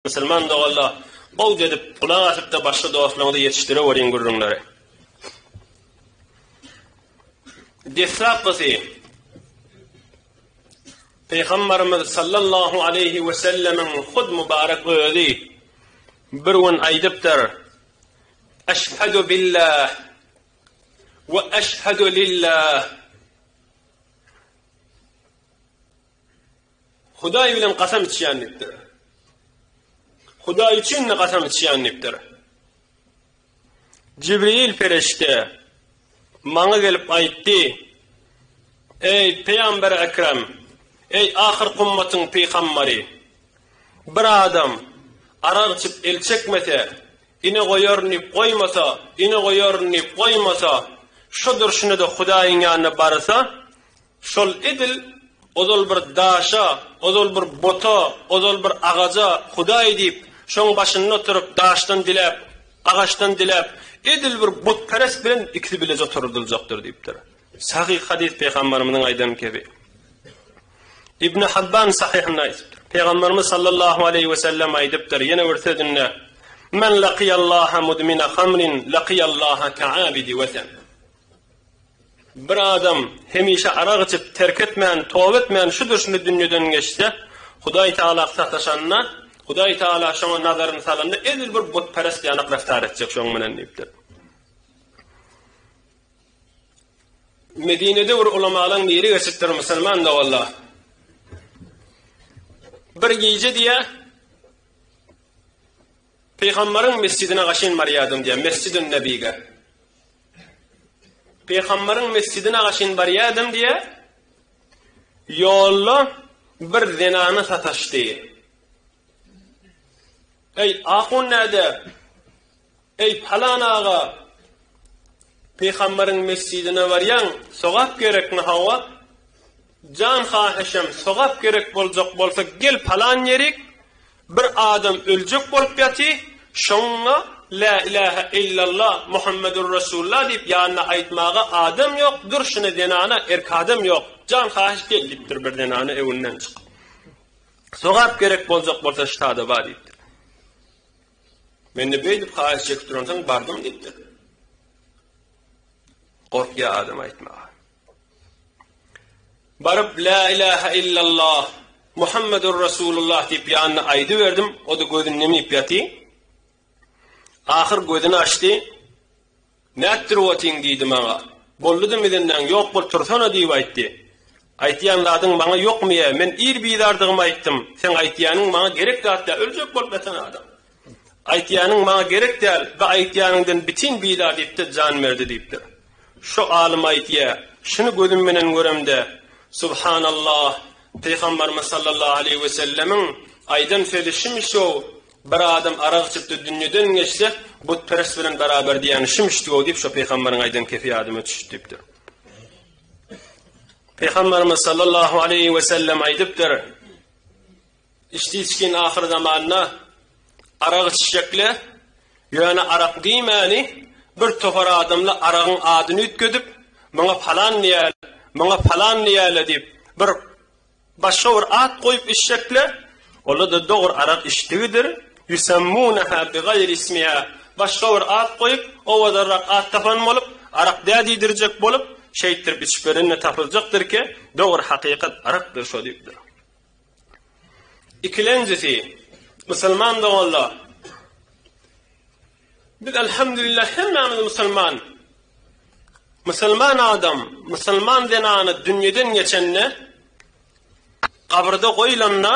Musulman doganlar, bagt edip, gulak asypda başga dostlaryňyzy ýetişdireweriň gürrüňleri. Deslapysy, Pygamberimiz sallallahu aleýhi we sellemiň hud mübarek özi bir gün aýdypdyr, Eşhedü billah we eşhedü lillah. Hudaý bilen gasam içýän diýipdir. Hudaý üçin-de gasam içýän diýipdir. Jibril perişde maňa gelip aýtdy, Eý, Peýamber Ekrem, eý, ahyr kummatyň peýgamberi, bir adam arak içip el çekmese, ine goýaryn diýip goýmasa, ine goýaryn diýip goýmasa, şu durşuna-da Hudaýyň ýanyna barsa, Şol edil ozal bir daşa, ozal bir buta, ozal bir agaja Hudaý diýip, şoň başynda oturyp, daşdan diläp, agaçdan diläp, edil bir butperest bilen ikisi bileje oturydyljakdyr diýipdir. Sahyh hadys Pygambarymyzyň aýdan kebi. Ibn Habban Sahyhynda aýdypdyr. Pygambarymyz sallallahu aleýhi we sellem aýdypdyr, ýene bir sözünde, Men laqiýallaha mudmina hamrin laqiýallaha ka'abidi wesen. Bir adam hemişe arak içip, terk etmän, toba etmän şu durşyny dünýeden geçse, Hudaý Tagala sataşanda, Hudaý Tagala şoňa nazaryny salanda, edil bir butperest ýaly reftar etjek şoň bilen diýipdir. Medinede bir ulamalaň biri geçipdir musulman da walla. Bir gije diye Pygamberiň mesjidine gaşyn barýardym diýýär, Mesjidün Nebige. Pygamberiň mesjidine gaşyn barýardym diýýär, ýolda bir zenana sataşdy. Eý, ahun näde? Eý, palan aga, Pygamberiň mesjidine barýaň, sogap gerekmi hawa? Jan hahyşam sogap gerek boljak bolsa gel palan ýerik bir adam öljek bolup ýaty şoňňa la ilaha illallah muhammedur resulullah diýip ýanyna aýtmaga adam ýok durşuna zenana erk adam ýok jan hahyş gel diýipdir bir zenana öwünden çykyp sogap gerek boljak bolsa ştada bar diýipdir mende beýdip haýyş çekip duransoň bardym diýipdir gorkýa adam aýtmaga Baryp Lä ilahe illallah, Muhammedur Resulullah diýip ýanyna aýdyberdim, o-da gözüni nemip ýaty. Ahyr gözüni açdy. Nätdirip otyň diýdi maňa. Bolduda midendaň ýok bol tursana diýip aýtdy. Aýtýan zadyň maňa ýokmy-ýa, men ir bizardygymy aýtdym, seň aýtýanyň maňa gerek zat däl, öljek bolup ýatan adam. Aýtýanyň maňa gerek däl, bu aýtýanyňdan bitin biýla diýip-de jan berdi diýipdir. Şo alym aýtýa, Şuny gözüm bilen göremde, Subhanallah, Pygambarymyz sallallahu aleýhi we sellemiň aýdan sözi şumy-şow, Bir adam arak içip-de dünýeden geçse, butperest bilen beraber diýýäni şumy-şdw diýip, şo Pygambaryň aýdan kefi ýadyma düşüp diýipdir. Pygambarymyz sallallahu aleýhi we sellem aýdypdyr, Istiçkin ahyr zamanda arak içjekle, ýöne arak diýmäni bir topar adamla aragyň adyny üýtgedip, muňa palan diýäle, muňa palan diýäle diýip, bir başga bir at goýup içjekle, ola-da dogry arak içdigidir, ýusemmuneha bigaýri ismiha, başga bir at goýup, owadanrak at tapan bolup, arak dä diýdirjek bolup, şeýtdirip içip berende tapyljakdyrki, dogry hakykat arakdyr şo diýipdir. Ikilenjisi, musulman doganlar, biz alhamdulillah hemmämiz musulman. Musulman adam, musulman zenany dünýeden geçende, gabrda goýlanda,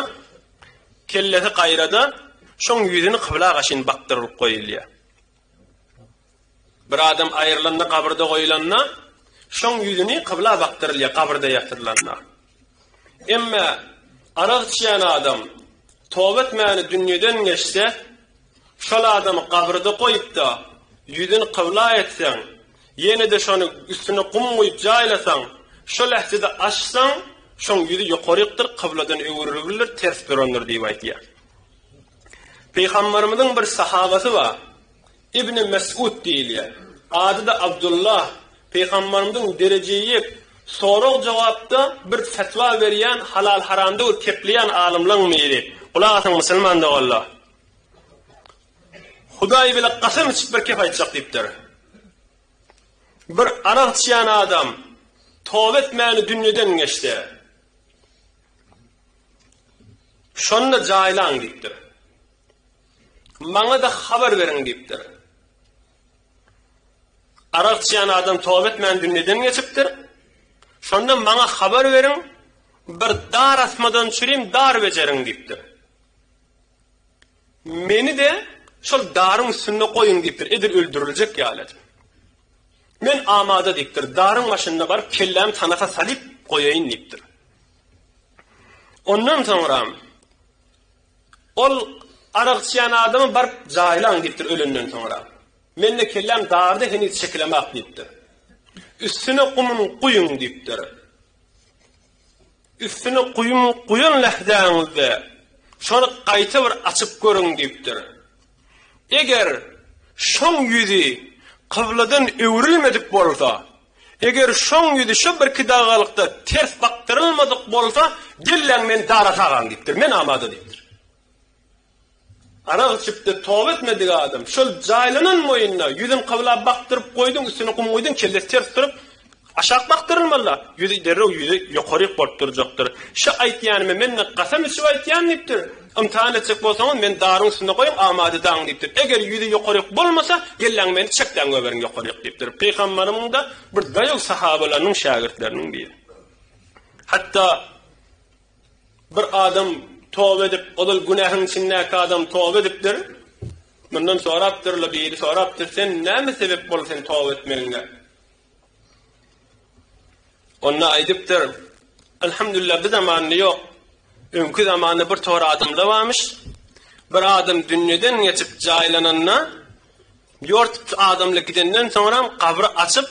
kellesi gaýrada, şoň ýüzüni kybla gaşyn bakdyrylyp goýulýar. Bir adam aýrylanda, gabyrda goýlanda, şoň ýüzüni kybla bakdyrylýar, gabyrda ýatyrylanda. Emma arak içýän adam toba etmäni dünýeden geçse, şol adamy gabyrda goýup-da, ýüzüni kybla etseň, ýene-de şony üstüne gum guýup jaýlasaň, şo lähzede açsaň, şoň ýüzi ýokarykdyr, kybladan öwrülipdir, ters durandyr diýip aýdýar. Pygamberimiziň bir sahabasy bar. Ibni Mes'ud diýilýär. Ady-da Abdullah. Pygamberimiziň derejeýik sorag-jogapda bir fetwa berýän halal-haramda göz kepleýän alymlaň biri. Gulak asyň musulman doganlar. Hudaý bile kasam içip bir kep aýtjak diýipdir. Bir arak içýän adam toba etmäni dünýeden geçdi. Şonda jaýlaň diýipdir. Maňa-da habar beriň diýipdir. Arak içýän adam toba etmän dünýeden geçipdir. Şonda maňa habar beriň, bir dar asmadan çürim dar bejeriň diýipdir. Meni de şol daryň üstünde goýuň diýipdir. Edil öldüriljek ýaly. Men amada diýipdir. Daryň başynda baryp kellämi tanaka salyp goýaýyn diýipdir. Ondan soňram ol arak içýän adamy baryp jaýlaň diýipdir ölenden soňra. Mende kelläm darda heniz çekilemak diýipdir. Üstüne gumuny guýuň diýipdir. Üstüne guýum guýan lähzäňizde şony gaýta bir açyp görüň diýipdir. Eger şoň ýüzi kybladan öwrülmedik bolsa, eger şoň ýüzi şo bir kidagalykda ters bakdyrylmadyk bolsa, gelläň men Dara Tagan diýipdir. Men amada diýipdir. Arak içipdir, toba etmedik adam. Şol jaýlanan moýunna ýüzün kybla bakdyryp goýduň, üstüne gum guýduň, kellesi ters durup, aşak bakdyrylmalyda, ýüzi derrew ýüzi ýokaryk bolup durjakdyr. Şa aýtýanymy men-de kasam içip aýtýan diýipdir. Ymtahan etjek bolsaňyz, meni daryň üstünde goýuň, amada daň diýipdir. Eger ýüzi ýokaryk bolmasa, gelläňiz meni çekläň göberiň ýokaryk diýipdir. Pygamberimiň-de bir daýaw sahabalarynyň şägirtleriniň biri. Hatda. Bir adam toba edip, ozal günähiň içindäki adam toba edipdir. Mundan sorapdyrlar, biri sorapdyr, sen näme sebep boldy sen toba etmegiňe? Onda aýdypdyr, Elhamdülillah, bu zamanda ýok. Öňki zamanda bir tor adamlar barmyş. Bir adam dünýeden geçip jaýlananda, Ýort adamlar gidenden soňram gabry açyp,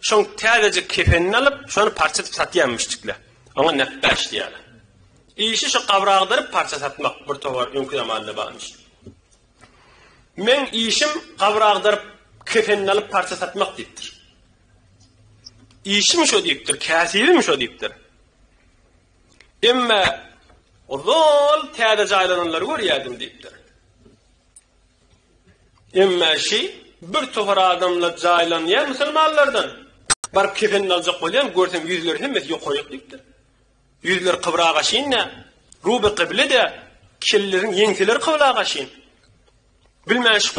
şoň täzejik kefenini alyp, şony parça edip satýar müşdikler. Oňa nepbäş diýýärler. Işi şu gabry agdaryp parça satmak bir towar öňki zamanda barmyş. Meň işim gabry agdaryp, kefenini alyp parça satmak diýipdir. Işim şo diýipdir, käsibim şo diýipdir. Emma ozal täze jaýlananlary görýärdim diýipdir. Emma şi bir tohar adamlar jaýlanýan musulmanlardan baryp kefenini aljak bolýan görsem ýüzleri hemmesi ýokaryk diýipdir. Ýüzleri kybra gaşyn dä, ruby kyble dä, kelleleriň ýeňseleri kybla gaşyn. Bilmän şi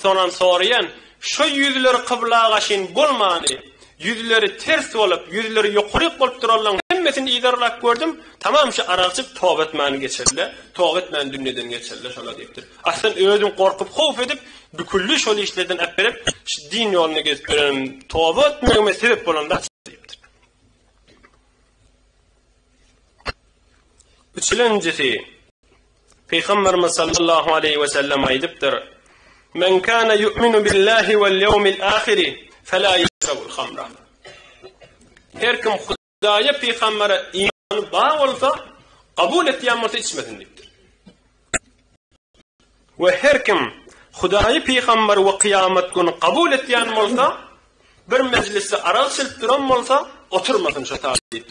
Sonam soraýan, şo ýüzleri kybla gaşyn bolmany, ýüzleri ters bolup, ýüzleri ýokaryk bolup duranlaň hemmesini yzarlap gördüm, tamam şu aragçyk toba etmany geçirle, toba etmän dünýeden geçirle şola diýipdir. Aslyn özüm gorkup howf edip, bükülli şol işlerden äpberip, şu din ýolunda gezip ýörenim, toba etmegime sebep bolan zat şo diýipdir. Üçülenjisi. Pygamberimiz sallallahu aleýhi we sellem aýdypdyr, Men kana yu'minu billahi wal yawmil ahiri fela yashrabul khamra. Her kim Hudaýa, pygambere imany bar bolsa, kabul etýän bolsa içmesin diýipdir. We her kim Hudaýy, pygamberi we kyýamat güni kabul etýän bolsa, bir mejlisde arak içilip duran bolsa, oturmasyn şo sagat diýipdir.